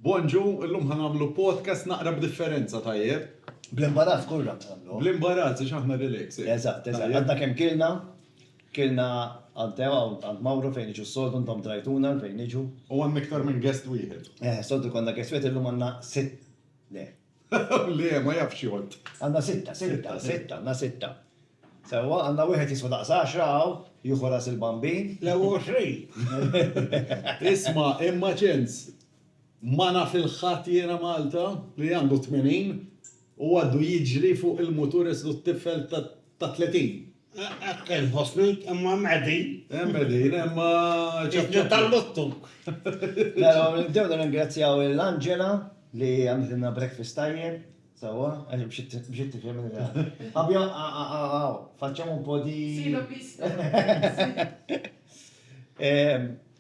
Bonġu, illum ħa nagħmlu podcast naqra b'differenza, tajjeb? Bl-imbarazz kollha nagħmlu. Bl-imbarazz għax aħna relax. Eżatt, eżatt. Għadna kemm kilna, kilna għand Tewa u għand Mawru fejn iġu s-soltu intom trajtuna fejn iġu. U għandna iktar minn guest wieħed. Eh, soltu konna guest wieħed illum għandna sitt. Le. Le, ma jafx jgħodd. Għandna sitta, sitta, sitta, għandna sitta. Sewwa, għandna wieħed jiswa daqs għaxra hawn, jieħu ras il-Bambin. Le hu għoxrin! Isma', imma ċens! Ma naf il-ħadd jiena Malta li għandu tmenin u għaddu jiġri fuq il-mutur islu t-tifel ta' tletin! Hekk inħossni, imma hemm qegħdin. Hemm qegħdin, imma ċapċapli. Id-dneb tal-luttu! Mela, nibdew nirringrazzjaw lil Angela li għamlitilna breakfast tajjeb. Sewwa, għax bxiet tifhem li la. Fabio, aw, facciamo un po' di. Sì, l'ho visto.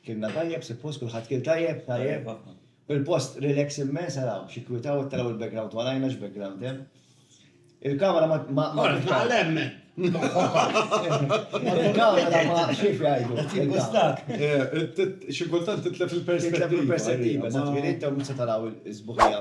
Kilna tajjeb, suppost kulħadd kien tajjeb, tajjeb. Il-post relax immens għalaw, xi kwitaw taraw il-background warajna x'background hemm. Il-kamera ma ma ma tagħlem. Il-kamera ma xif jgħidu. Timbustak. Xi kultant titlef il-perspettiva. Titlef il-perspettiva, sa twilit ta' mhux se taraw il-sbuħija.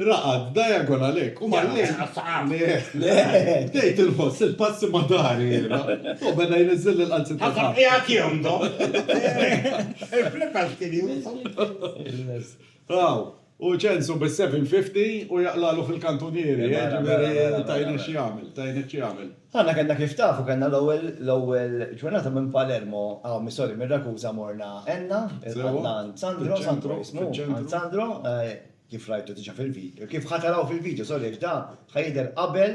Raqad, diagon għalek, u mal-lejl. Bdejt inħoss il-passi ma' dahri jiena. U beda jniżżilli l-qalzi ta' taħt. Qiegħed jomdom. Il-flippers kien jieħu. Aw, u ċensu bis-750 u jaqlagħlu fil-kantunieri, jiġifieri tajni x'jagħmel, tajni x'jagħmel. Aħna kellna kif taf u kellna l-ewwel, l-ewwel ġurnata minn Palermo, aw mi sorry, minn Ragusa morna Enna, il-qalb ta' għand Sandro, Sandro jismu, għand Sandro, Kif rajtu diġa fil-video. Kif ħa taraw fil-video, sorry, għax da ħa jidher qabel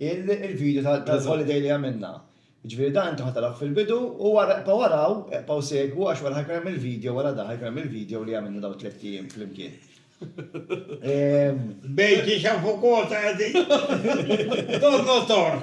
il-video tal-holiday li għamilna. Jiġifieri da intom ħa tarawh fil-bidu u wara eqbgħu araw, eqbgħu segwu għax wara ħa jkun hemm il-video wara da ħa jkun hemm il-video li għamilna dawn it-tliet ijiem flimkien. Bejn kiex hawn fuq Kota qegħdin. Donnottor!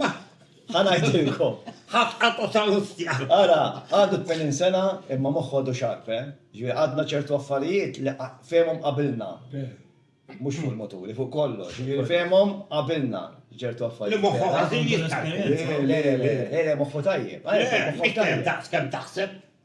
Ma, ħa ngħidilkom, ħafna ta' Salustja! Ara, għadu tmenin sena imma moħħu għadu xarb, eh? Jiġifieri għadna ċertu affarijiet li fehimhom qabilna. Mhux fuq il-moturi, fuq kollox. Jiġifieri fehimhom qabilna ċertu affarijiet. Li moħħu ħażin jittarka. Le, le, le, le, le, moħħu tajjeb. Le, mhux kemm daqs kemm taħseb.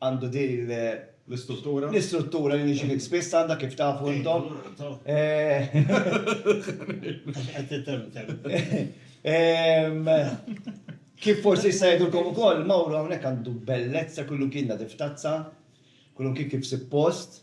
għandu din l-istruttura li niġi fik spiss għandha kif tafu intom. Kif forsi jista' jgħidulkom ukoll, Mawru hawnhekk għandu bellezza kull imkien nadif tazza, kull imkien kif suppost.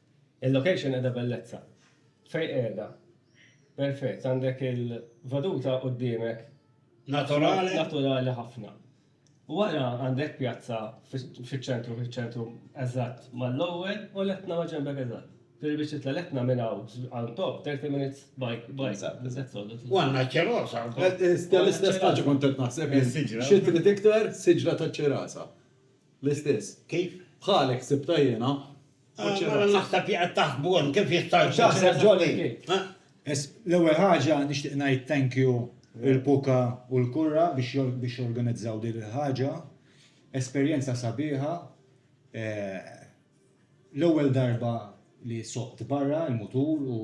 Il-location qiegħda bellezza. Fejn qiegħda. Perfett, għandek il-veduta quddiemek. Naturali. Naturali ħafna. Wara għandek pjazza fiċ-ċentru, fiċ-ċentru eżatt mal-ewwel u l-Etna ma' ġenbek eżatt. Ġifieri biex titla' l-Etna minn hawn għal top 30 minutes bike, bike, that's all. U għandna ċ-Ċirasa wkoll. L-istess ħaġa kont qed naħseb jien. Xi trid iktar siġra taċ-Ċirasa. L-istess. Kif? Bħalek ħsibtha jiena. U ċirraħ. Mela naħseb li qed taħsbu hemm kif jista' jkun. Taħseb ġoli. L-ewwel ħaġa nixtieq ngħid thank you lil Puka u l-Kurra biex organizzaw din il-ħaġa. Esperjenza sabiħa. L-ewwel darba li soqt barra l-mutur u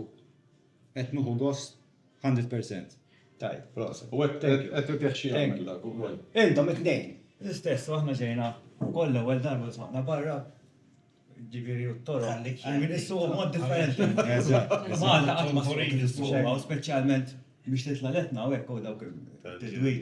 qed nieħu gost. Hundred percent. Tajjeb, proset. U hekk qed irtieħ xi jagħmel dak ukoll. Intom it-tnejn. L-istess u aħna ġejna wkoll l-ewwel darba u sħaqna barra, jiġifieri u t-toroq li kien issuq mod differenti. Eżatt. Malta qatt ma trid issuqha u speċjalment biex titla' l-etna u hekk u dawk it-tidwil.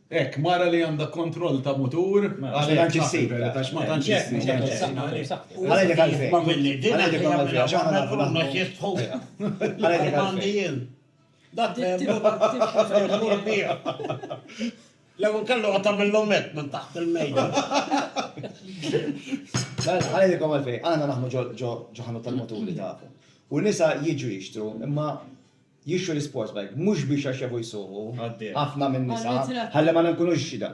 Hekk, mara li għandha kontroll ta' mutur għalhekk naħseb hekk għax ma tantx issib xejn. jixtru l-isports bike mhux biex għax jafu jsuqu ħafna min-nisa ħalli ma nkunux xhieda.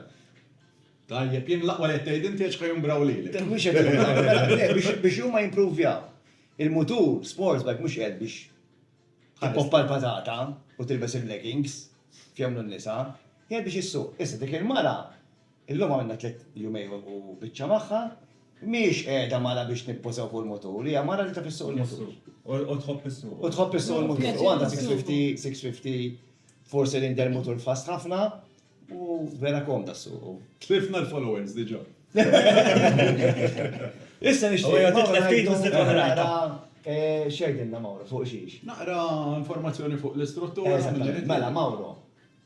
Tajjeb, jien l-aqwa li qed tgħid inti għax ħa jumbraw lilek. Mhux qed jumbraw, le, biex huma jimpruvjaw. Il-mutur sports bike mhux qiegħed biex tippoppa l-patata u tilbes il-leggings kif jagħmlu n-nisa, qiegħed biex issuq. Issa dik il-mara, Illum għamilna tliet jumejn u biċċa magħha. Mhijiex qiegħda mara biex nibbużaw fuq il-mutur, hija mara li taf issuq il-mutur. U tħobb issuqu. U tħobb issuq il-mutur. U għandha 650, 650 four cylinder mutur fast ħafna u vera komda ssuqu. Tlifna l-followers diġà. Issa nixtieq li Mawro jgħidilna x'jgħidilna Mawro fuq xiex. Naqra informazzjoni fuq l-istruttura. Eżattament. Mela Mawro,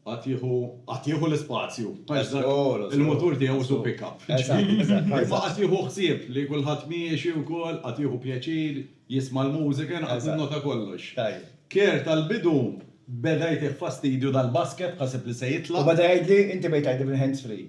Qatt jieħu, qatt jieħu l-ispazju. Għax dak il-mutur tiegħu hu pick-up. Imma qatt jieħu ħsieb li kulħadd miexi wkoll, qatt jieħu pjaċir jisma' l-mużika, jien qatt ninnota kollox. Care tal-bidu beda jtih fastidju dal-basket, ħaseb li se jitlaq. U beda jgħidli, inti bdejt tgħidli bil-hands free.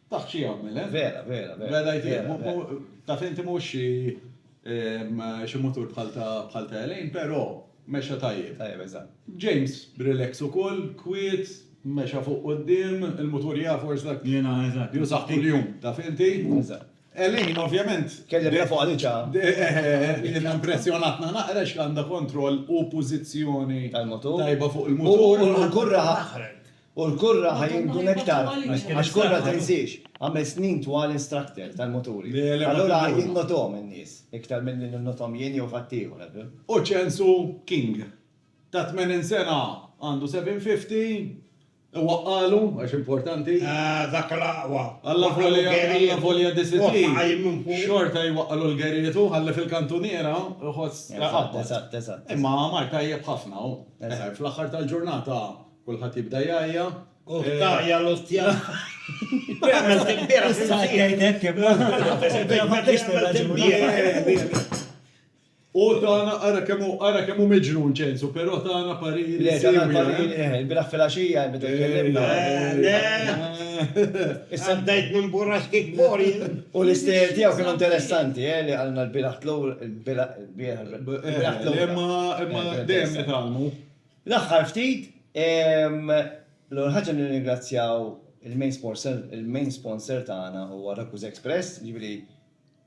Taf xi jagħmel, eh? Vera, vera, vera. Vera jgħidlek, mu, mu, taf inti mhux xi, ehm, xi mutur bħal ta', bħal ta' Elaine, però mexa tajjeb. Tajjeb, eżatt. James relax ukoll, kwiet, mexa fuq quddiem, il-mutur jaf għax dak. Jiena, eżatt. Jużah kuljum, taf inti? Eżatt. Elaine, ovvjament. Kelli biha fuqha diġà. Jiena impressjonatna naqra x'għandha kontroll u pożizzjoni. Tal-mutur. Tajba fuq il-mutur. U l-kurra. U l-kurra ħa jingħdun iktar għax kurra tinsiex. Għamilt snin twal instructor tal-muturi. Allura jinnotuhom in-nies iktar milli ninnothom jien jew ħaddieħor, għaddu. U ċensu King. Ta' tmenin sena għandu 750, iwaqqagħlu għax importanti. Ah, dak l-aqwa. Alla volja disitli, xorta jwaqqagħlu l-geriet hu ħalli fil-kantuniera jħoss iqabbad. Eżatt, eżatt, eżatt. Imma mar tajjeb ħafna hu. Fl-aħħar tal-ġurnata Kulħadd jibda jgħajja. Uff tgħajja l-ostja. Għamilt il-bieraħ fil-ħsieb. U tagħna ara kemm hu ara kemm hu miġnun Ċensu, però tagħna pariri. Le tagħna l-pariri, eh, il-bieraħ fil-għaxija meta tkellimna. Le. Issa bdejt nimburrax kif mur jien. U l-istejjer tiegħu kienu interessanti, eh, li qalna l-bieraħ tlur, il-bieraħ. Imma dejjem nitgħallmu. L-aħħar ftit, l-ewwel ħaġa nirringrazzjaw il-main sponsor tagħna huwa Rakuza Express, jiġifieri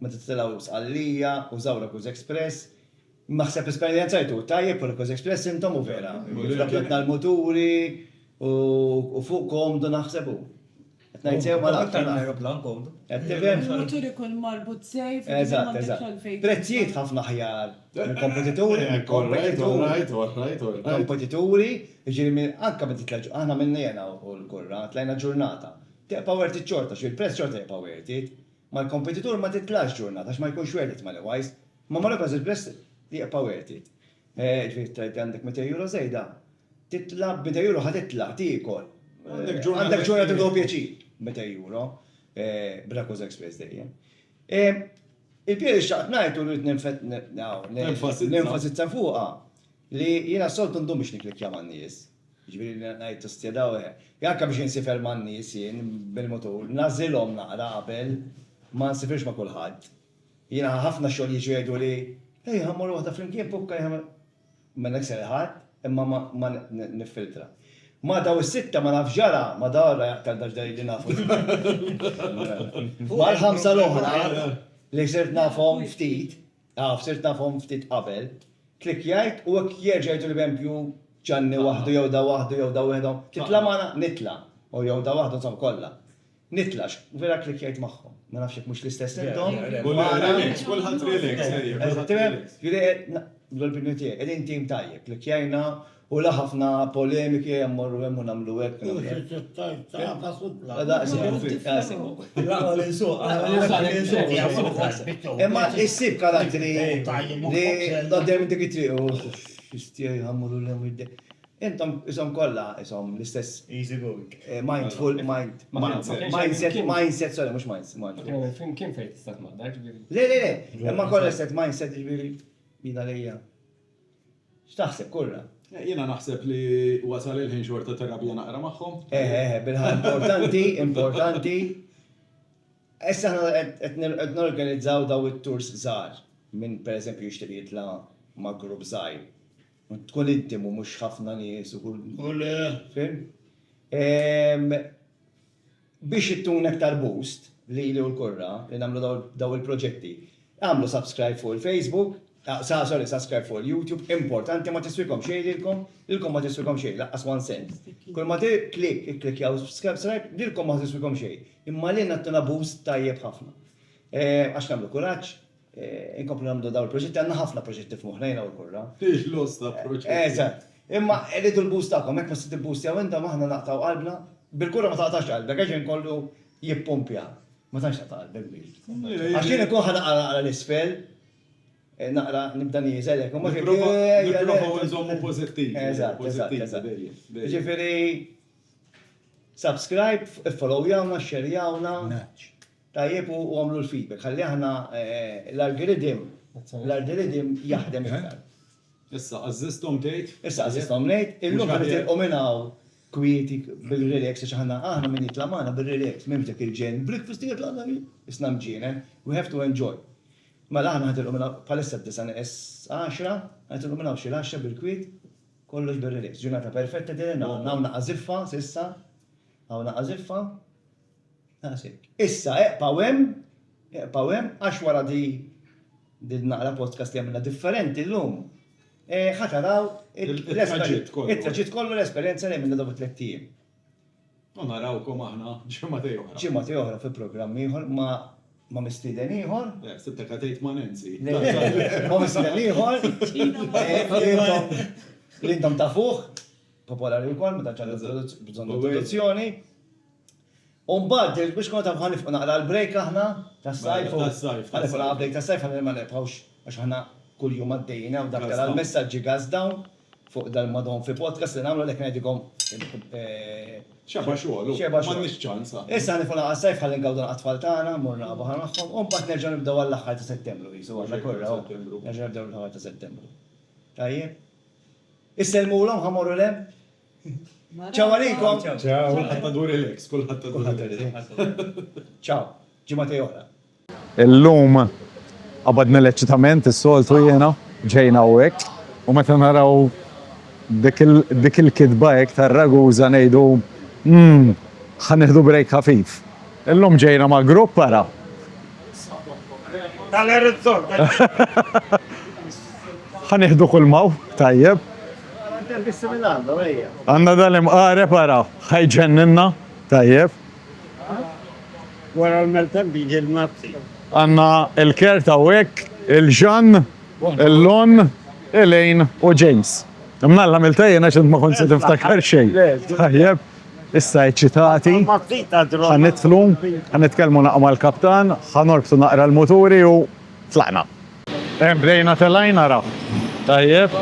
meta titilgħu Sqallija użaw Rakuza Express. Naħseb esperjenzajtu tajjeb fuq Rakuza Express intom u vera, dak li għedna l-muturi u fuq komdu naħseb hu. Qed ngħid sew malajr. Aktar minn ajruplan komdu. Qed tifhem? Mutur ikun marbut sejf. Eżatt, eżatt. Prezzijiet ħafna aħjar mill-kompetituri. Alright, alright, alright, alright. Kompetituri, jiġifieri anke meta titla' ġurnata, aħna għamilna jiena u l-kurra, tlajna ġurnata. Tibqa' worth it xorta, xi l-prezz xorta jibqa' worth it. Mal-kompetitur ma titlax ġurnata għax ma jkunx worth it money wise, imma mal-Operas Express jibqa' worth it. Ġifieri tgħidli għandek 200 euro żejda, titla' b' 200 euro ħa titla', tiekol, għandek ġurnata tieħu pjaċir. 200 euro, bla Cosa Express dejjem. Il-punt li xtaqt ngħid u rrid nenfasizza fuqha, li jiena s-soltu ndum biex nikklikkja man-nies, jiġifieri li ngħid ostja daw he, anke biex insifer man-nies jien bil-mutur, nagħżilhom naqra qabel, ma nsifirx ma' kulħadd. Jiena ħa ħafna xogħol jiġu jgħidu li, Ej, ħa mmorru waħda flimkien, pukka li ħa. Ma nikser ħadd, imma ma, ma niffiltra. Ma daw is-sitta ma nafx x'ġara, ma daw ra aktar dax dej li nafu żball. Mal-ħamsa l-oħra, li sirt nafhom ftit, af, sirt nafhom ftit qabel, klikkjajt u hekk jerġa' jgħiduli pempju Ġanni waħdu jew da waħdu jew da wieħedhom, titla' magħna? Nitla'. U jew da waħdu, insomma, kollha. Nitlax, vera klikkjajt magħhom. Ma nafx jekk mhux l-istess intom. Relax, kulħadd relax, ejja, kulħadd relax. Jiġifieri qed, bl-opinjoni tiegħi, qegħdin tim tajjeb, klikkjajna u la ħafna polemiki, ejja mmorru hemm u nagħmlu hekk. U x'qed tgħid, tagħfas u tlaq. Daqshekk, daqshekk. L-aqwa li nsuq, l-aqwa li nsuq, li nsuq, li nsuq. Imma issib karattri li għoddejjem dik it-triq, uff, x'istieħi ħa mmorru 'l hemm u jdej. Intom qishom kollha qishom l-istess. Easy going. Mindful, mind, mindset, mindset, sorry, mhux minds, mindful. Kien hemm film kien fejn tista' tnaddar, ġifieri. Le, le, le, imma kollha l-istess mindset, ġifieri, jien għalija. X'taħseb, kurra? Jiena naħseb li wasal il-ħin xorta terapija naqra magħhom. Eħe, eħe, bil-ħa, importanti, importanti. Issa aħna qed qed norganizzaw dawn it-tours żgħar minn pereżempju jixtieq jitla' ma' grupp żgħir. U tkun intimu mhux ħafna nies u kull fim. Biex ittuna iktar boost lili u l-kurra li nagħmlu dawn il-proġetti, agħmlu subscribe fuq il-Facebook, sorry subscribe fuq il-YouTube, importanti ma tiswikom xejn lilkom, lilkom ma tiswikom xejn lanqas one cent. Kull ma click ikklikkjaw subscribe lilkom ma ħa tiswikom xejn, imma lilna ttuna boost tajjeb ħafna. Għax nagħmlu kuraġġ, Inkomplu nagħmlu dawn il-proġetti, għandna ħafna proġetti f'moħħna jiena u l-Kurra. Fih lots ta' proġetti. Eżatt. Imma rridu l-boost tagħkom, jekk ma se tibboostjaw intom aħna naqtgħu qalbna. Bil-Kurra ma taqtax qalbek għax ġej kollu jippumpja. Ma tantx taqta' qalbek bih. Għax jien inkun ħa naqra naqra l-isfel, naqra nibda nieżel hekk, imma ġej kollu ejja le. Nipprovaw inżommu pożittivi. Eżatt, eżatt, eżatt. Jiġifieri subscribe, iffollowjawna, xxerjawna. Nudge. Tajjeb u għamlu l-feedback ħalli aħna l-algorithm l-algorithm jaħdem iktar. Issa għażżisthom tgħid? Issa għażżisthom ngħid, illum se nitilqu minn hawn kwieti bil-relax għax aħna aħna min jitla' magħna bir-relax m'hemmx dak il-ġen breakfast u jitla' dan isna mġienen we have to enjoy. Mela aħna ħa nitilqu minn hawn bħalissa d-disgħa neqes għaxra ħa nitilqu minn hawn xi l-għaxra bil-kwiet kollox bir-relax. Ġurnata perfetta din hawn hawn naqas ziffa s'issa hawn naqas ziffa. That's it. Issa eqpaw hemm, eqpaw hemm, għax wara di din naqra podcast li għamilna differenti llum, ħa taraw it-traġitt kollu l-esperjenza li għamilna dawk it-tlett ijiem. U narawkom aħna ġimgħatej oħra. Ġimgħatej oħra fi programm ieħor ma' mistieden ieħor. Le, ħsibtek ħa tgħid ma' Nancy. Ma' mistieden ieħor. Li intom tafuh, popolari wkoll, ma tantx għandu bżonn introduzzjoni. U mbagħad biex nkunu tafu ħa nifqu naqra għal break aħna tas-sajf u ħa nifqu naqra break tas-sajf ħalli ma nerbħux għax aħna kuljum għaddejjin hawn dak tara l-messaġġi gas dawn fuq dal madhom fi podcast li nagħmlu għalhekk ngħidilkom Xeba' xogħol u m'għandniex ċans aħna. Issa ħa nifqu naqra s-sajf ħalli ngawdu naqra t-tfal tagħna mmorru naqra baħar magħhom u mbagħad nerġgħu nibdew għall-aħħar ta' Settembru qisu għandna kurra u nerġgħu nibdew l-aħħar ta' Settembru. Tajjeb? Issellmulhom ħa mmorru l-hemm? Ciao għalikom! Ciao! Kulħadd għandu relax, kulħadd għandu relax. Kulħadd għandu relax. Ciao, ġimgħatej oħra. Illum qabadna l-eċċitament, is-soltu jiena, ġejna hawnhekk u meta naraw dik il-kitba hekk tar-raguża ngħidu, 'Umm, ħa nieħdu break ħafif. Illum ġejna ma' grupp ara. Ħa nieħdu kulma hawn, tajjeb. Għandna dal-imqareb ara, ħa jġenninna, tajjeb. Wara l-maltemp jiġi l-mazzi. Għandna l-kert hawnhekk, il-Ġann, il-Lon, Elaine u James. Imnalla għamiltha jien għax int ma kont se tiftakar xejn. Tajjeb. Issa eċċitati, ħa nidħlu, ħa nitkellmu naqra mal-kaptan, ħa norbtu naqra l-muturi u tlaqna. Ehm, bdejna telgħin ara. Tajjeb,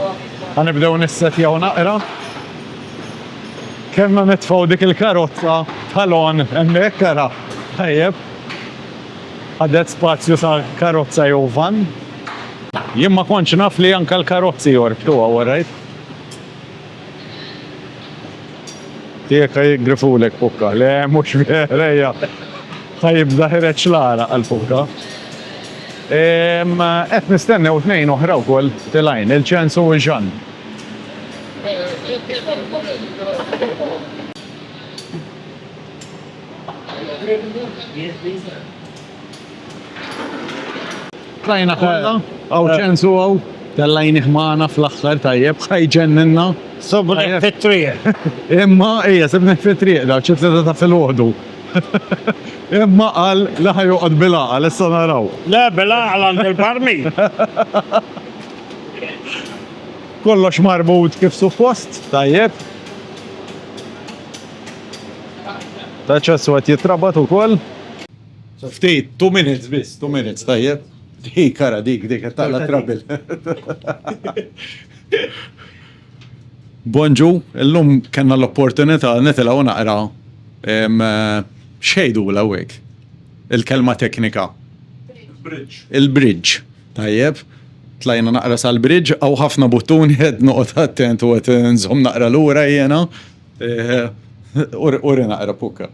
ħa nibdew nissettjaw naqra. Kellna nitfgħu dik il-karozza tal-għon hemmhekk ara. Tajjeb. Ħadet spazju sa karozza jew vann. Jien ma kontx naf li anke l-karozzi jorbtu hawn, orajt. Jekk ħaj jgrifulek pukka, le mhux vera hija ħaj jibda ħireġ l-għaraq għall-pukka. Qed nistennew tnejn oħra wkoll tilgħin, il-Ċens u Jeanne. Qrajna kollha, hawn ċensu hawn, tellajnih magħna fl-aħħar tajjeb, ħa jġenninna. Sibnih fit-triq. Imma, ija, sibnih fit-triq, daw xi tlieta ta' filgħodu. Imma qal li ħa joqgħod bil-għaqal, issa naraw. Le, bil-għaqal għand il-barmi. Kollox marbut kif suppost, tajjeb. L-aċċess qed jitrabat ukoll. Ftit, two minutes biss, two minutes, tajjeb. Hi kara dik, dik, taqla trabil. Bonġu, illum kena l-opportunità nitilaw naqra xejdu l-għawek, il-kelma teknika. Il-bridge. Il-bridge, tajjeb. Tlajna naqra sal-bridge, għaw ħafna buttuni għed noqot attent u għed nżom naqra l-ura jena. Uri naqra pukka.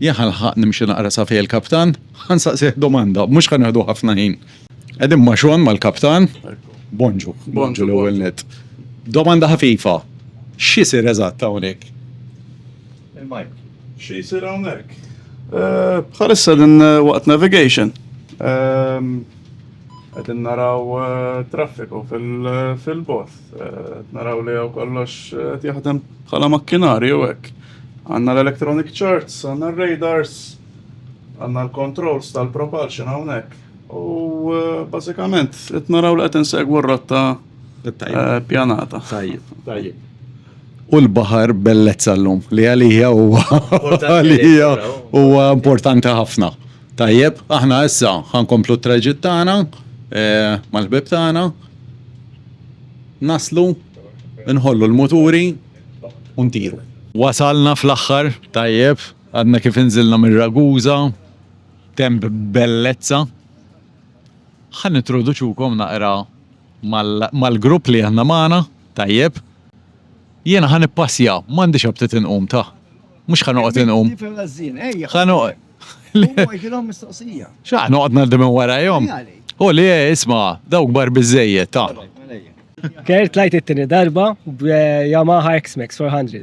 Jien ħalħaq nimxi naqra sa fejn il-kaptan, ħansaqsih domanda, mhux ħan nieħdu ħafna ħin. Qegħdin ma' xogħol mal-kaptan, bonġu, bonġu l-ewwel net. Domanda ħafifa, x'isir eżatt hawnhekk? Xi jsir hawnhekk? Bħalissa din waqt navigation. Qed naraw traffiku fil-bot. Naraw li hawn kollox qed jaħdem bħala makkinarju hekk. Għandna l-electronic charts, għandna r-radars, għandna l-controls tal-propulsion hawnhekk. U bażikament qed naraw li qed insegwu r-rotta pjanata. Tajjeb. Tajjeb. u l-baħar bellezza l-lum li għalija huwa għalija huwa importanti ħafna. Tajjeb, aħna issa ħankomplu t-traġit tagħna eh, mal-ħbib tagħna. Naslu, nħollu l-muturi u ntiru. Wasalna fl-aħħar, tajjeb, għadna kif inżilna mir-Raguża, temp bellezza. Ħan introduċukom naqra Mal-grupp li aħna magħna, tajjeb, jiena ħa nippassja, m'għandix aptit inqum ta. Mhux ħa noqgħod inqum. Ħa noqgħod. Xa, noqgħod ngħaddi minn warajhom. U li isma' dawk bar biżejjed ta. Kert tlajt it-tieni darba b'Yamaha X-Max 400.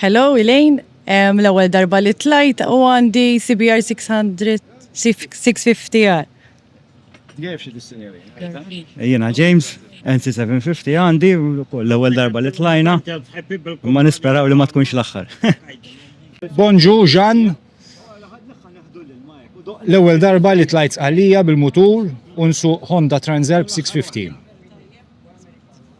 Hello Elaine, Em, l-ewwel darba li tlajt u għandi CBR 600 650R. Jgħid xi dissinjeri. Jiena James, NC 750 għandi ukoll l-ewwel darba li tlajna. Ma nisperaw li ma tkunx l-aħħar. Bonġu Jean, L-ewwel darba li tlajt Sqallija bil-mutur u nsuq Honda Transalp 650.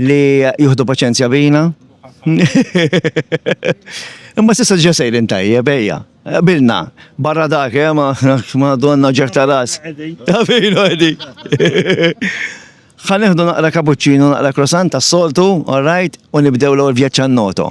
Li juhdu paċenzja bina. Imma sissa ġa sejrin tajjeb, ejja. Bilna, barra dak, eh, ma, ma donna ġerta ras. Għafinu għedi. Ħaneħdu naqra kapuċċinu, naqra krosant tas-soltu, all right, u nibdew l-għol vjaċċan noto.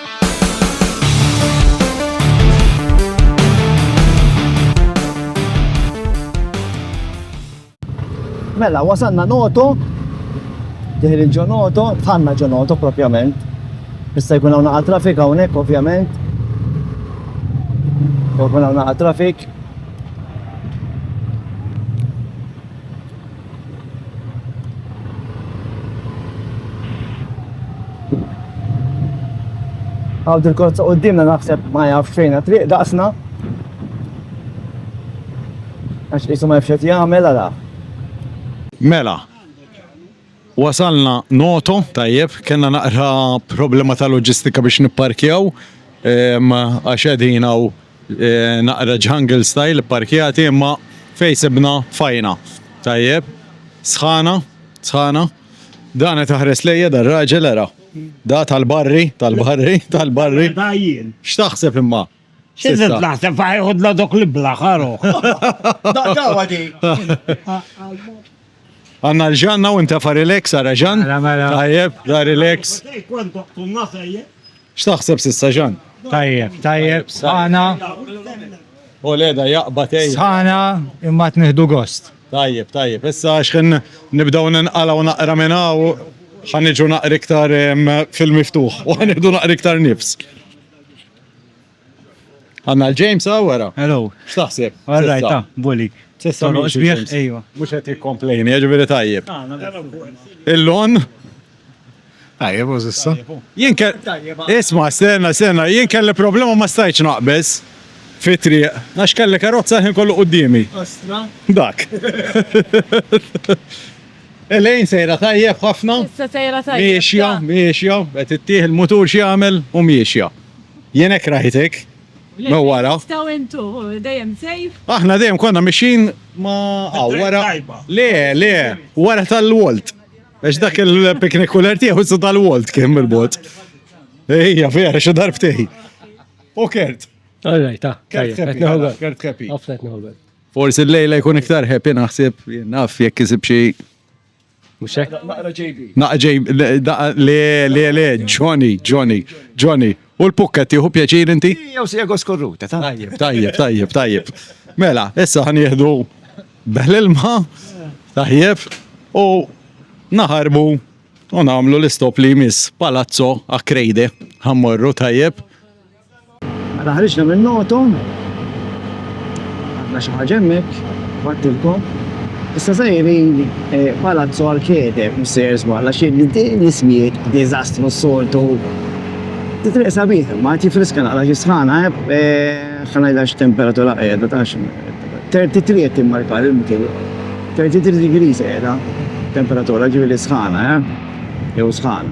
Mela, wasanna noto, diħil il-ġo noto, tħanna ġo noto propjament. Issa jkun hawn naqa' trafik hawnhekk ovvjament. Jkun hawn naqa' trafik. Għawd il-kont ta' qoddimna naħseb ma jaf xejna triq daqsna. Għax jisu ma jafxet jgħamil għala. Mela, wasalna noto, tajjeb, kena naqra problema ta' loġistika biex nipparkjaw, għax edina u Naqra jungle style ipparkjati imma fejn sibna fajna. Tajjeb. Sħana, sħana. Dan qed iħares lejja dan raġel ara. Da tal-barri, tal-barri, tal-barri. X'taħseb imma? X'inżid naħseb ħajħodna dok l-ibla ħaruh. Daqqa għadi. Għanna l-ġanna u intefa relax, għara ġan? Mela, mela. Tajjeb, la relax. X'taħseb sissa ġan? Tajjeb, tajjeb, sħana. U leda jaqba tej. Sħana imma tniħdu gost. Tajjeb, tajjeb. Issa xħin nibdaw ninqala u naqra minna u ħanġu naqra iktar fil-miftuħ u ħanġu naqra iktar nifs. Għanna l-James għaw għara. Hello. Xtaħseb? Għarrajt, ta' bully. Sessa mux bieħ, ejwa. Mux għet jikomplejni, għagħviri tajjeb. Il-lon? Tajjeb, u zissa. Jien kell. Isma, sena, sena, jien kell problema ma stajċ naqbez. Fitri, għax kelli karozza ħin kollu qoddimi. Ostra? Dak. Elejn sejra tajjeb ħafna. Issa sejra tajjeb. Miexja, miexja, għet ittieħ il-mutur xie għamel u miexja. Jien hekk rajtek. Ma wara. Taw intu, dejjem sejf. Aħna dejjem konna mixin ma għaw wara. Le, le, wara tal-Walt. Għax dak il-piknik kuller tiegħu su tal-Walt kien bil-bot. Ejja, vera, xi darbtej. U kert. All right, ta. Kert kepi. Forsi l-lejla jkun iktar happy naħseb, naf jekk isib xi Mux hekk? Naqra JB. Naqra JB, le, le, le, Johnny, Johnny, Johnny. U l-pukka tiħu pjaċir inti? Jew si jagħu skorruta, tajjeb, tajjeb, tajjeb, tajjeb. Mela, issa ħan jihdu beħl-ilma, tajjeb, u naħarbu u namlu l-istop li jmiss palazzo a krejde, ħammorru tajjeb. Mela ħriġna minn noto, għandna xi ħaġa hemmhekk, battilkom. Issa sejrin eh, palazzo arcade, missier żballa xi l-ismijiet diżastru s-soltu. Titriq sabiħ, ma tifriska naqra xi sħana, eh, eh, ħanajla x'temperatura qiegħda ta' 33 qed timmarkar il-mkien. 33 degrees qiegħda temperatura ġifieri sħana, jew sħana.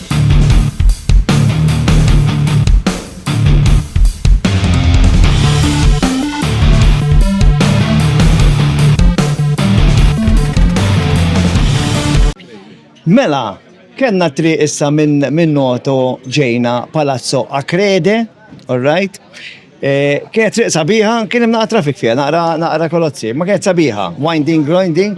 Mela, kena tri issa minn min noto ġejna Palazzo Akrede, alright? Eh, kienet triq sabiħa, kien imna trafik fija, naqra, naqra kolozzi, ma kienet sabiħa, winding, grinding,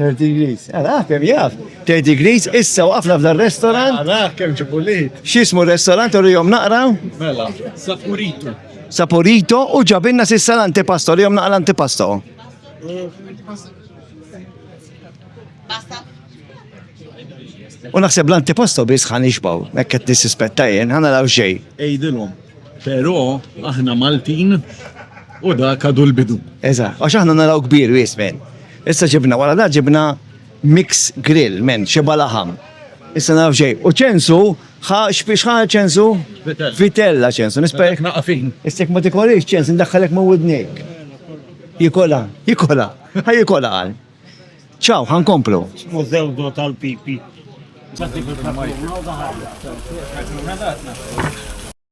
30 degrees. Ara kemm jaf. 30 degrees issa waqafna f'dan restaurant. Ara kemm ġibulit. X'ismu r-restaurant u rihom naqra? Mela, Saporito. Saporito u ġabinna sissa l-antipasto, rihom naqra l-antipasto. U naħseb l-antipasto biss ħan ixbaw, hekk qed nissispetta jien, ħana raw xejn. Ejdilhom. Però aħna Maltin u dak għadu l-bidu. Eżatt, għax aħna naraw kbir wismen. Issa ġibna wara da ġibna mix grill, men, xeba laħam. Issa naf xej. U ċensu, ħa xbiex ħa ċensu? Vitella ċensu, nispek. Naqafin. Istek ma tikolix ċens, ndaħħalek ma widnik. Jikola, jikola, ħa jikola għal. ċaw, ħan komplu. Mużewdo tal-pipi.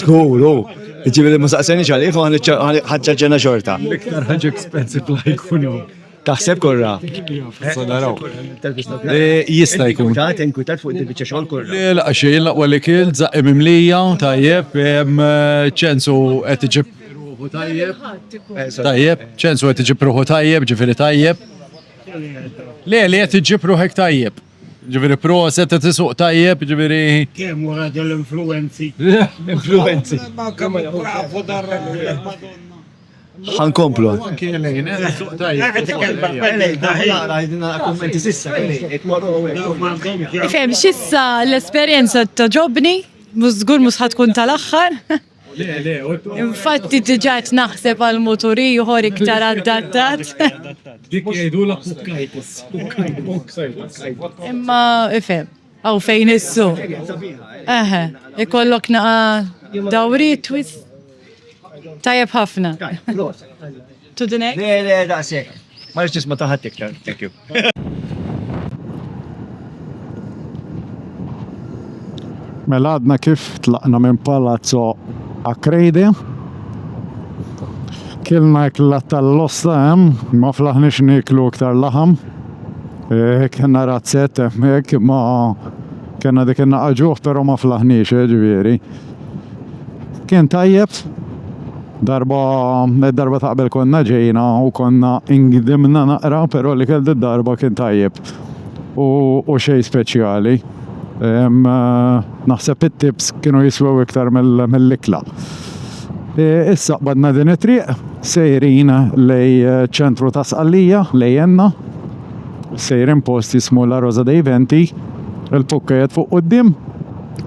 Skur, u. Ġifieri ma saqsejniex għalih u ħaġġaġġena xorta. L-iktar ħaġa expensive li ħajkun hawn. Taħseb kurra? Issa naraw. Jista' jkun. Tant inkwitat fuq din il-biċċa xogħol kurra. Le, la xejn, l-aqwa li kilt, żaqqi mimlija, tajjeb, ċensu qed iġib ruħu tajjeb. Tajjeb, ċensu qed iġib ruħu tajjeb, ġifieri tajjeb. Le, li qed iġib ruħek tajjeb. Ġifieri proset qed isuq tajjeb, ġifieri. Kemm wara dell-influenzi. Influenzi. Bravo dar Ħankomplu. Fem, xissa l-esperienza ta' ġobni, mużgur musħat kun tal-axħar. Infatti diġa qed naħseb għal mutur ieħor iktar adattat. Dik jgħidulha pukkajtis. Imma ifhem, għaw fejn issu. Eħe, ikollok naqa dawri twist. Tajjeb ħafna. to the next. Le, le, daqshekk. Ma rridx nisma' ta' ħadd iktar. Thank you. Mela għadna kif tlaqna minn Palazzo Acredi. Kilna ikla tal-losta hemm, ma flaħniex niklu iktar laħam. Eh, kena razzet hemmhekk ma kena dik innaqa ġuħ però ma flaħniex eh, ġifieri. Kien tajjeb darba darba taqbel konna ġejna u konna ingdimna naqra, però li kell darba kien tajjeb u, u xej speċjali. Eh, naħseb it-tips kienu jiswew iktar mill-ikla. Eh, issa qbadna din it-triq, sejrin lej eh, ċentru ta' sqallija, lej enna, sejrin post jismu La Rosa dei Venti, il-pukkajet fuq qoddim,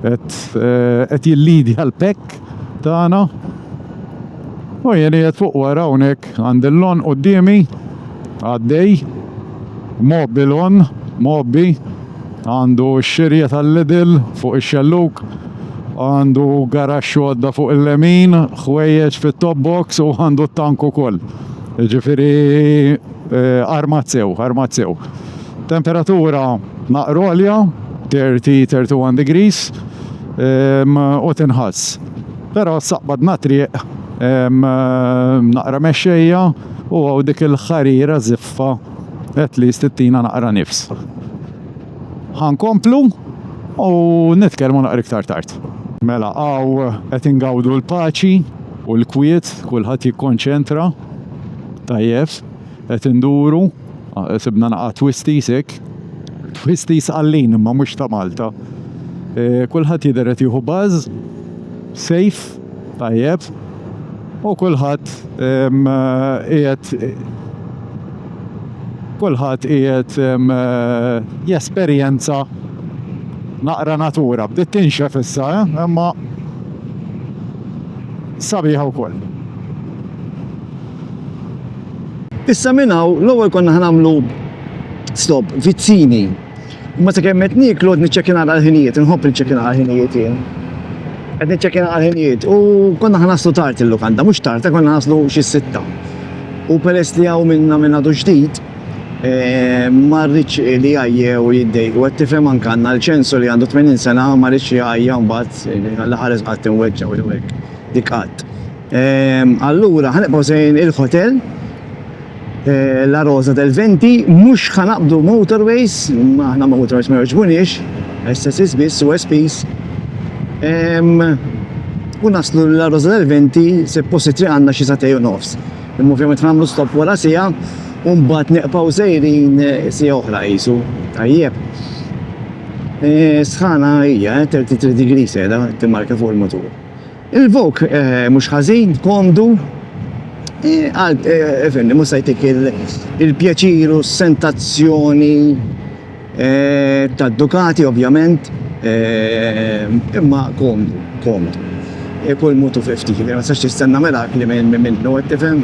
qed jillidja l-pekk tagħna. U jien qed fuq wara hawnhekk għandi l-lon qudiemi għaddej mobbi lon mobbi għandu x-xirja tal-lidil fuq ix-xelluk għandu garax għodda fuq il-lemin, ħwejjeġ fit-top box u għandu t-tank ukoll. Ġifiri Armat sew, armat sew. Temperatura naqra għolja, 30-31 degrees, u tinħass. Però saqbadna triq naqra mexxejja u hawn dik il-ħarira żiffa at least tittina naqra nifs. Ħa nkomplu u nitkellmu naqra iktar tard. Mela hawn qed ingawdu l-paċi u l-kwiet, kulħadd jikkonċentra. Tajjeb, qed induru, sibna naqa' twisties hekk. Twisties għallin imma mhux ta' Malta. E, kulħadd jidher qed jieħu baż, sejf, tajjeb, u kulħadd qiegħed kulħadd qiegħed jesperjenza naqra natura. Bdiet tinxef issa, eh? Imma sabiħa wkoll. Issa minn hawn l-ewwel konna ħnamlu stop vizzini. Ma se kemm qed nieklu qed niċċekin għal ħinijiet, inħobb niċċekin għal ħinijiet jien. Qed niċċekin għal ħinijiet u konna ħanaslu tard il-lukanda, mhux tard, konna ħanaslu xi sitta. U peress li hawn minna minn għadu ġdid, eh, ma rridx li għajjew u jiddej. U għed tifhem anke għandna l-ċensu li għandu 80 sena ma rridx jgħajja mbagħad eh, l-ħares qatt inweġġa u jwek. Dik qatt. Ehm, allura ħanibqgħu sejn il-hotel eh, La Rosa del Venti, mhux ħanaqbdu motorways, aħna motorways ma jogħġbunix, SSS biss u SPs. Ehm, u naslu La Rosa del Venti se posti triq għandna xi satej u nofs. Imma ovvjament ħamlu stop wara sija u mbagħad neqpaw sejrin eh, sija oħra qisu. Tajjeb. Eh, sħana hija 33 eh, degree seda timmarka fuq il-motur. Il-vok mhux ħażin, komdu, għal fimni mhux se jtik il-pjaċir u s-sentazzjoni tad-Ducati ovvjament, imma komdu, komdu. Kull mod u fi ftit, ma tistax tistenna mirakli minnu, qed tifhem?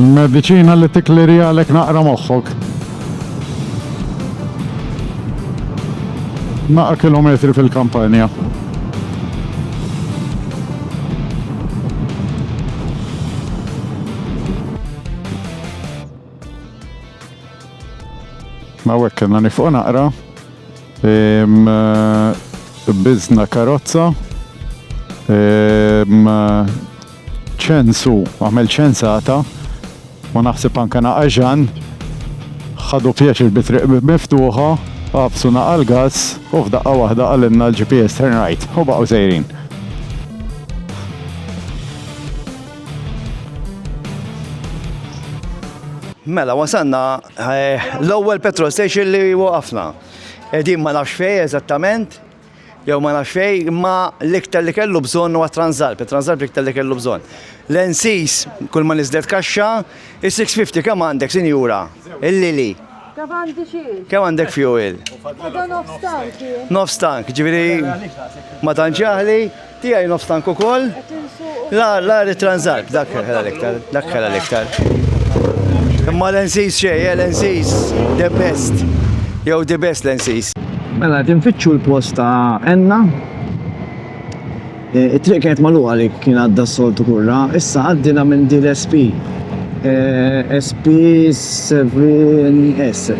Il-mediċina li tikliri għalek naqra moħħok. Naqra kilometri fil-kampanja. Ma wek kellna nifqu naqra. Bizna karozza. ċensu, għamel ċensata. U naħseb anka naqaġan. ħadu pjaċir bitriq miftuħa. Għafsu naqal gas u f'daqqa waħda għalinna l-GPS turn right. U baqgħu sejrin. Mela, wasanna eh, l-ewwel petrol station li waqafna. Edin ma nafx fej eżattament, jew ma nafx fej, imma l-iktar li kellu bżonn huwa transalp, transalp l-iktar li kellu bżonn. L-ensis, kull ma nizdet kaxxa, is-650 kemm għandek sinjura? Il-lili. Kemm għandi xiex? Kemm għandek fuel? Nofs tank, ġifieri ma tantx Tiegħi nofs tank ukoll. La, la ritranżat, dak ħela l-iktar, dak ħela l-iktar. Imma l-ensis xej, eh, l-ensis the best. Jew the best l-ensis. Mela, tinfittxu l-post ta' enna. E, it-triq kienet maluqa li kien għadda s-soltu kurra, issa għaddina minn dil SP. E, SP 7S,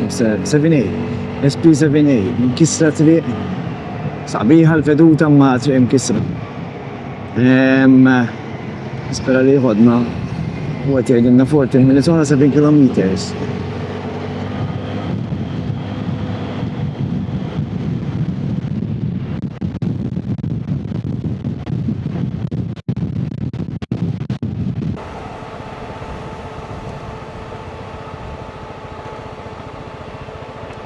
7A. SP 7A, kisra triq Sabiħa l-veduta ma triq imkisra. Spera li jħodna u għet jgħidilna 14 minutes għana 7 km.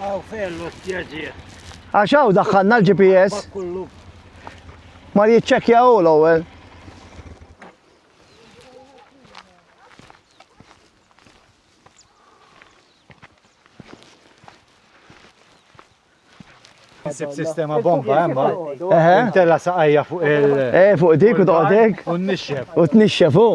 Għaw fejn l-ostja ġie. Għax hawn daħħalna l-GPS. Ma jiċċekkja u l-ewwel. Sib sistema bomba emma. Eħe. Tella saqajja fuq il. Eh, fuq dik u toqgħodek. U nixxef. U tnixxef u.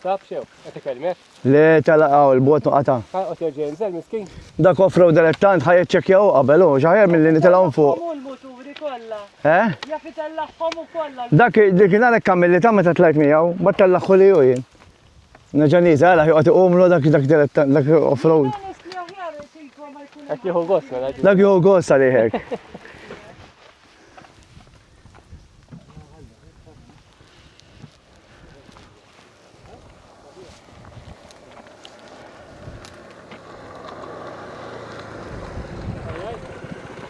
Taf xew, qed ikellmek? Le tella qaw il-bot noqata. Ħaqgħod jerġa' jinżel miskin. Dak offrow delettant ħaj ċċekkjaw qabel u ġaħjar milli nitilgħu fuq. Muturi kollha. Eh? Jaf itellagħhom ukoll. Dak dik għalhekk kamilli ta' meta tlajt miegħu, ma tellagħħu li jien. Nerġa' nieżel għala joqgħod iqumlu dak dak dak off-road. Qed jieħu gost mela. Dak jieħu gost għalihek.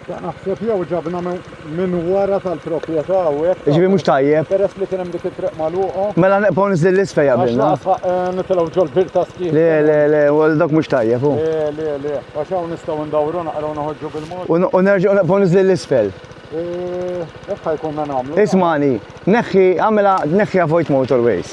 Naħseb jew ġabna minn wara tal-proprjetà hawnhekk. Ġifi mhux tajjeb. Peress li kien hemm dik it-triq magħluqa. Mela neqgħu niżel l-isfel jaqbilna. Eh, nitilgħu ġol bir ta' skif. Le, le, le, wal dak mhux tajjeb hu. Le, le, le. Għax hawn nistgħu ndawru naqraw noħorġu bil-mod. U nerġgħu neqgħu niżel l-isfel. Eh, hekk ħajkunna nagħmlu. Ismani, neħħi, għamela neħħi avoid motorways.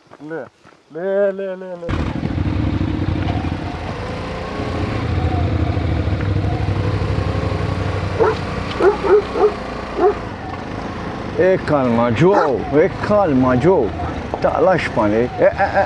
Le, le, le, le, le. E kalma ġo, e kalma ġo. Taqlax panik. E, e, e.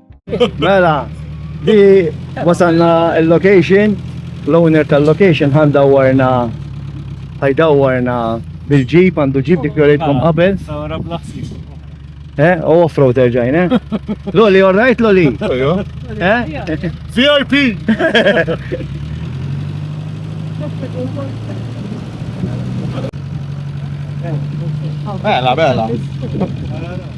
Mela, di wasalna il-location, l-owner tal-location ħan dawarna ħaj dawarna bil-ġib, għandu ġib dik jorejtkom qabel. Eh, u off-road erġajn, eh? Loli, all right, Loli? Eh? VIP! Bella, bella.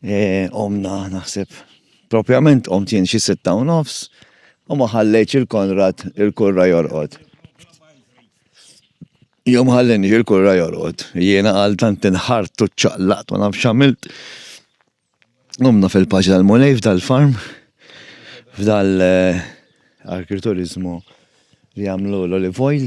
Qomna, naħseb, propjament qomt jien xi sitta u nofs u ma ħallejtx il-Konrad il-kurra jorqod. Jom ħallini il-kurra jorqod, jiena għal tant inħart u ċaqlaqt u naf xamilt. Qomna fil-paċi tal-mulej f'dal-farm, f'dal eh, arkriturizmu li għamlu l-olive oil.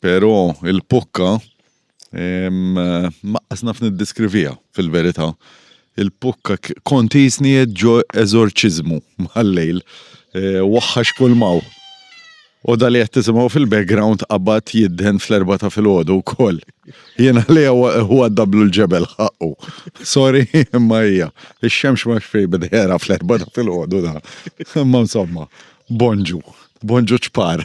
Pero il-pukka maqqas naf niddiskrivija fil-verita. Il-pukka kont jisni ġo eżorċizmu mal-lejl. E, waħħax kull maw. U dali qed tisimgħu fil-background qabad jidden fl-erba ta' fil-ħodu wkoll. Jiena li huwa dablu l-ġebel ħaqqu. Sorry, imma hija. Ix-xemx ma xfej bidħera fl-erba ta' fil-ħodu da. Imma insomma, bonġu, bonġu ċpar.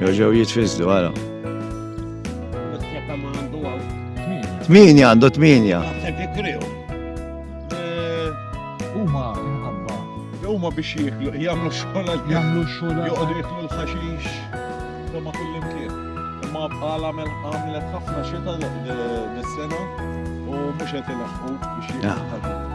Joġew jitfizdu, għara. Tminja għandu tminja. Huma minħabba. Huma biex jieklu, jagħmlu xogħol għal jagħmlu xogħol. Joqogħdu jieklu l-ħaxix. Imma kullimkien. Imma bħala għamlet ħafna xita dis-sena u mhux qed ilaħħu biex jieklu.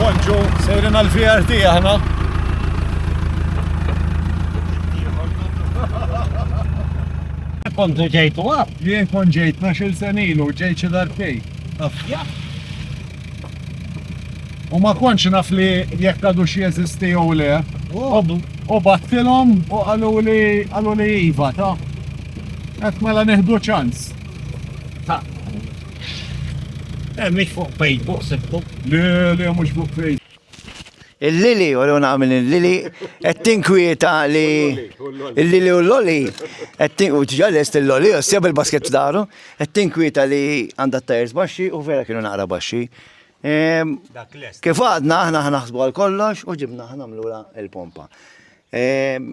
Bonġu, sejrin għal-VRT aħna. Kontu ġejtu għab? Jien kon ġejt nax il-senilu, ġejt xedar fej. Jah. U ma kontx naf li jekk għadux jeżisti jew le. U battilhom u qaluli qaluli iva ta. Qed mela nieħdu ċans. Ta. Eh, mhix fuq Facebook sibtu. Le, le mhux fuq Facebook. Il-lili, u l nagħmel il-lili, qed tinkwieta li il-lili u l-loli, u ġalest il-loli, u s-seb il-basket f'daru, qed tinkwieta li għandha t-tajers baxxi u vera kienu naqra baxxi. Ehm, kif għadna, aħna ħnaħsbu għal kollox u ġibna ħna mlura il-pompa. Ehm,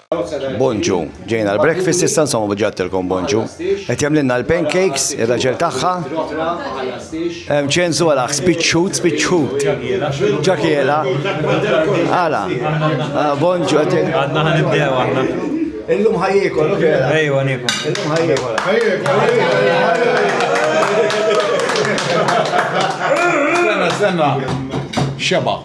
Bonġu, ġejna l-breakfast issa insomma bġattilkom bonġu. Qed jagħmlilna l-pancakes, ir-raġel tagħha. Hemm ċensu għala spiċċut, spiċċut. Ġakiela. Għala. Ah, bonġu qed Għadna ħan nibdew għadna. Illum ħajjekol, ok. Ejwa niekom. Illum ħajjekol. Sena, sena. Xeba.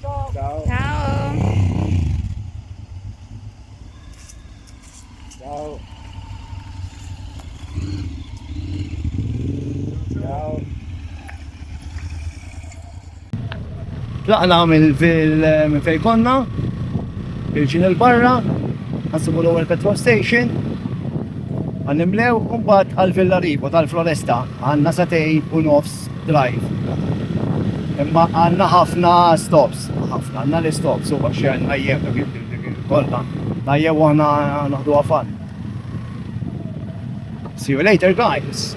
Ciao. Ciao. Ciao. Ciao. Tlaqna minn fil konna, il-ġin il-barra, għansibu l-ewwel petrol station, għannimlew un bat għal-villa ribu tal-floresta, għanna satej u nofs drive. Imma għandna ħafna stops, ħafna, għandna l-istops u għax għandna jgħem ta' kif kollha. Tajjeb u għandna naħdu għafan. See you later guys!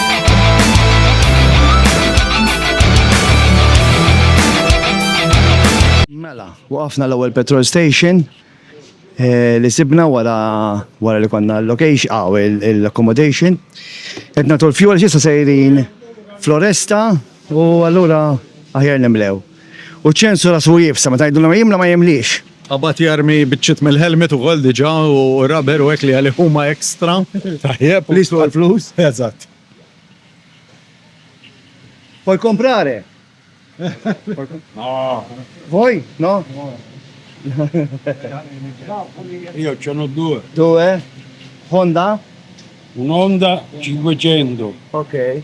Mela, waqafna l-ewwel petrol station eh, li sibna wara wara li konna l-location aw ah, l-accommodation. Qed nagħtu l-fuel x'issa sejrin Floresta u allura aħjar nimlew. U ċ-ċensu rasu jibsa meta jgħidulhom jimla ma jimliex. Qabad jarmi biċċiet mill-helmet ukoll diġa u rubber u hekk li għalih huma extra. Tajjeb. Li jiswew il-flus. Eżatt. Puoi comprare? No. Vuoi? No? Io ce n'ho due. Due? Honda? Un'Honda 500. Ok.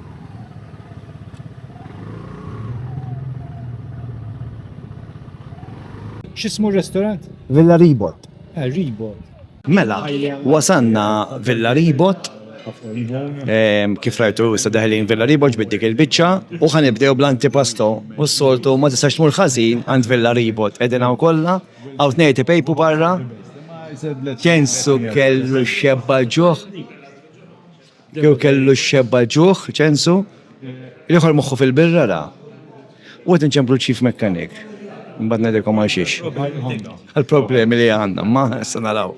X'ismu r-restorant? Villa Ribot. Ah, Ribot. Mela, wasanna Villa Ribot. Ehm, kif rajtu issa daħlin Villa Ribot ġbid dik il-biċċa u ħan nibdew bl-antipasto u s-soltu ma tistax tmur ħażin għand Villa Ribot. Qegħdin hawn kollha, hawn tnejti pejpu barra. Kensu kellu xebba ġuħ. Jew kellu x-xebba l-ġuħ, ċensu, l-ieħor moħħu fil-birra ra. U qed inċemplu l-chief mechanic. Imbagħad ngħidilkom għal xiex. Għall-problemi li għandna, imma issa naraw.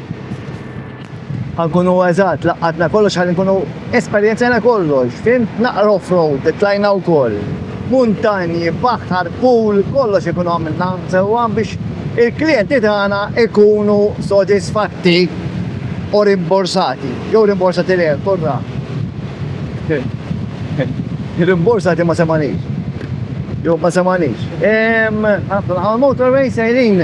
Għankunu eżatt, laqqatna kollox ħalli nkunu esperjenzjana kollox, fim naqra off-road, tlajna wkoll. Muntanji, baħar, pool, kollox ikunu għamilna sewwa biex il-klijenti tagħna ikunu sodisfatti u rimborsati. Jew rimborsati le, kurra. Rimborsati ma semanix. Jew ma semanix. Għal motorway sejrin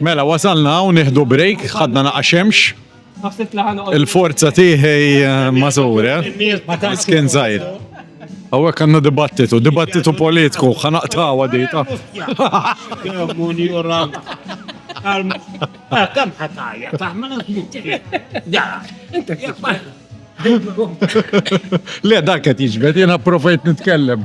Mela, wasalna hawn nieħdu break, ħadna naqa' xemx. Il-forza tiħi eh, mażur, eh? Miskin zaħir. Għawek għanna dibattitu, dibattitu politiku, ħanaqtaw għadita. Kam ħatajja, taħmel Le, dak qed jiġbed, jiena provajt nitkellem.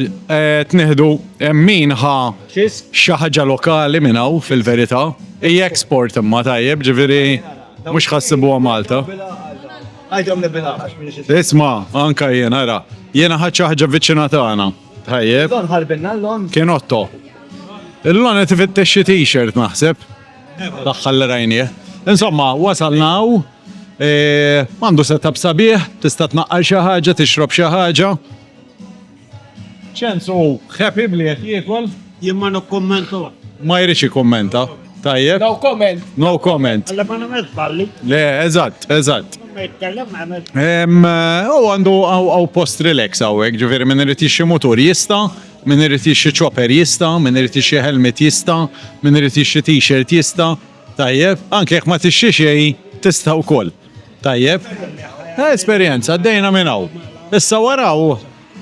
Tneħdu min ħa xi ħaġa lokali minn hawn fil-verità. Hija export imma tajjeb, ġifieri mhux ħassibuha Malta. Isma' anka jien ara, jiena ħadd xi ħaġa viċina tagħna. Tajjeb. Kien Otto. Illon qed ifittex xi t-shirt naħseb. L-aħħar li rajnieh. Insomma, wasalna hawn. Għandu setup sabiħ, tista' tnaqqar xi ħaġa, tixrob xi ħaġa. Ċens u happy b'li qed jiekol. Jien ma nikkummenta. Ma jridx jikkummenta. Tajjeb. No comment. No comment. Le ma nagħmilx żballi. Le, eżatt, eżatt. Ma jitkellem nagħmel. Ehm, u għandu għaw post relax hawnhekk, ġifieri min irid jixxi mutur jista', min irid jixxi chopper jista', min irid jixxi helmet jista', min irid jixxi t-shirt jista'. Tajjeb, anke jekk ma tixxi xejn tista' wkoll. Tajjeb. Eh, esperjenza, għaddejna minn hawn. Issa waraw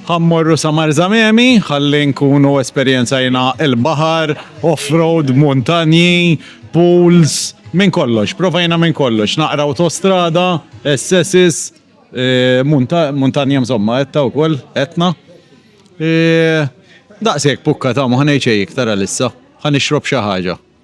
ħammorru sa Marzamemi, ħalli nkunu esperjenzajna il-baħar, off-road, muntanji, pools, minn kollox, provajna minn kollox, naqra autostrada, SSs, eh, muntanja mżomma, etta u koll, etna. Eh, daqsek pukka ta' muħnejċej iktar għalissa, ħan ixrob xaħġa.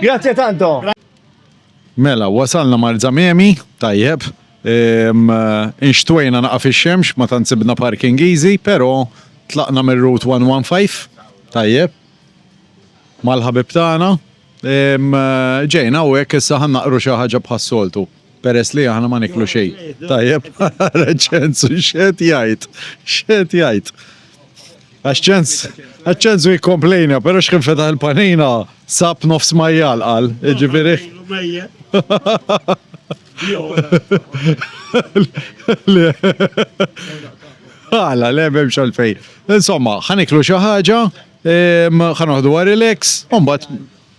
Grazie tanto. Mela, wasalna Marzamemi, tajjeb. Ehm, inxtwejna naqa fi xemx ma tant sibna parking easy, pero tlaqna mir route 115, tajjeb. Mal-ħabib tagħna. Ehm, ġejna u hekk issa ħannaqru xi ħaġa bħas-soltu. Peress li aħna ma niklu xejn. Tajjeb, ċensu x'qed jgħid, x'qed jgħid. Għax ċens, għax ċensu jikkomplejna, però x'kien fetaħ il-panina sab nofs majjal qal, ġifieri. Għala, le memx għalfej. Insomma, ħaniklu xi ħaġa, ħanoħdu għarileks, un bat